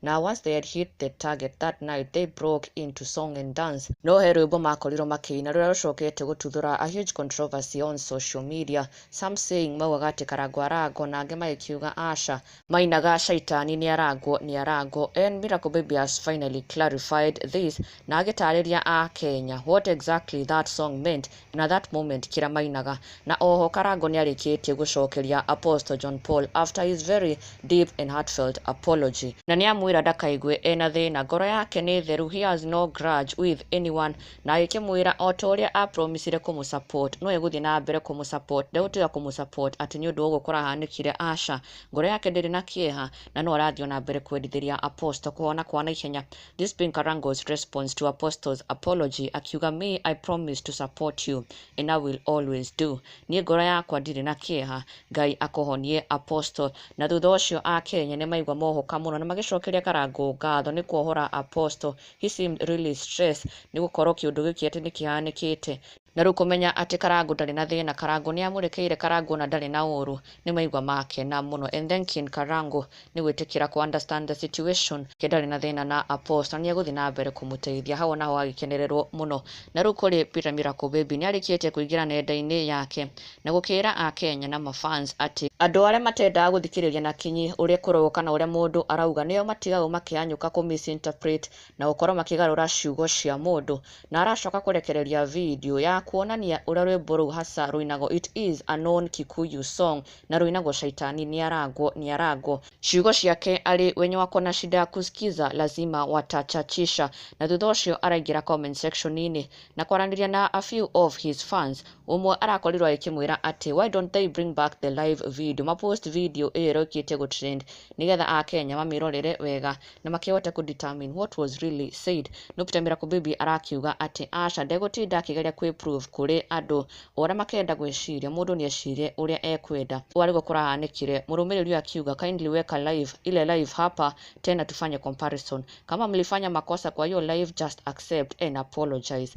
Na once they had hit the target that night they broke into song and dance. No he rwĩmbo makorirwo makĩina rũrĩa rũcokete gũtuthũra a huge controversy on social media. Some saying maugaga atĩ Karangũ arangwo na angĩ magĩkiuga aca. Mainaga Shaitani nĩarangwo nĩarangwo and Miracle Baby has finally clarified this na agĩtarĩria a Kenya what exactly that song meant Na that moment kĩra mainaga. Na oho Karangũ nĩarĩkĩtie gũcokeria Apostle John Paul after his very deep and heartfelt apology. Na nĩamwĩra ndakaigue ena thĩna, ngoro yake nĩ theru, he has no grudge with anyone, na agĩkĩmwĩra o ta ũrĩa a promisire kũmũ support no egũthiĩ na mbere kũmũ support, ndegũtiga kũmũ support atĩ nĩ ũndũ wa ũguo kũrahanĩkire, aca, ngoro yake ndĩrĩ na kĩeha na no arathiĩ o na mbere kwendithĩria Apostle kũhona kwa naihenya. This being Karango's response to Apostle's apology akiuga me I promise to support you and I will always do. Niĩ ngoro yakwa ndirĩ na kĩeha Ngai akũhonie Apostle. Na thutha ũcio Akenya nĩ maigua mohoka mũno na magĩcokeria Karango ngatho nĩ kuohora Apostle. He seemed really stressed nĩ gũkorwo kĩũndũ gĩkĩ atĩ nĩ kĩhanĩkĩte Na rĩu kũmenya atĩ Karangũ ndarĩ na thĩna, Karangũ nĩamũrekeire Karangũ na ndarĩ na ũũru, nĩ maigua makena mũno and thanking Karangũ nĩ gwĩtĩkĩra kũ understand the situation, ke ndarĩ na thĩna na Apost na nĩegũthiĩ na mbere kũmũteithia, hau onaho hagĩkenererwo mũno, na rĩu kũrĩ Peter Miracle Baby nĩarĩkĩtie kũingĩra nenda-inĩ yake na gũkĩĩra Akenya na ma fans atĩ, andũ arĩa matendaga gũthikĩrĩria na kinyi ũrĩa kũraugwo kana ũrĩa mũndũ arauga nĩo matigagwo makĩhanyũka kũ misinterpret na gũkorwo makĩgarũra ciugo cia mũndũ, na aracoka kũrekereria video ya kuonania ũrĩa rwĩmbo rũu hasa rũinagwo it is a known Kikuyu song na rũinagwo Shaitani niarangwo niarangwo. Ciugo ciake arĩ wenye wako na shida ya kuskiza lazima watachachisha na thutha ũcio araingĩra comment section inĩ na kwaranĩria na a few of his fans ũmwe arakorirwo agĩkĩmwĩra atĩ why don't they bring back the live video ma post video ĩyo ĩrĩa ĩũkĩte gũ trend nĩgetha akenya mamĩrorere wega na makĩhota kũ determine what was really said. No Peter Miracle Baby arakiuga atĩ aca ndegũtinda akĩgeria kwĩ prove kũrĩ andũ ũrĩa makenda gwĩciria, mũndũ nĩecirie ũrĩa ekwenda. Ũũ arĩguo kũrahanĩkire, mũrũmĩrĩri ũyũ akiuga kindly weka live ile live hapa tena tufanye comparison. Kama mlifanya makosa kwa hiyo live just accept and apologize.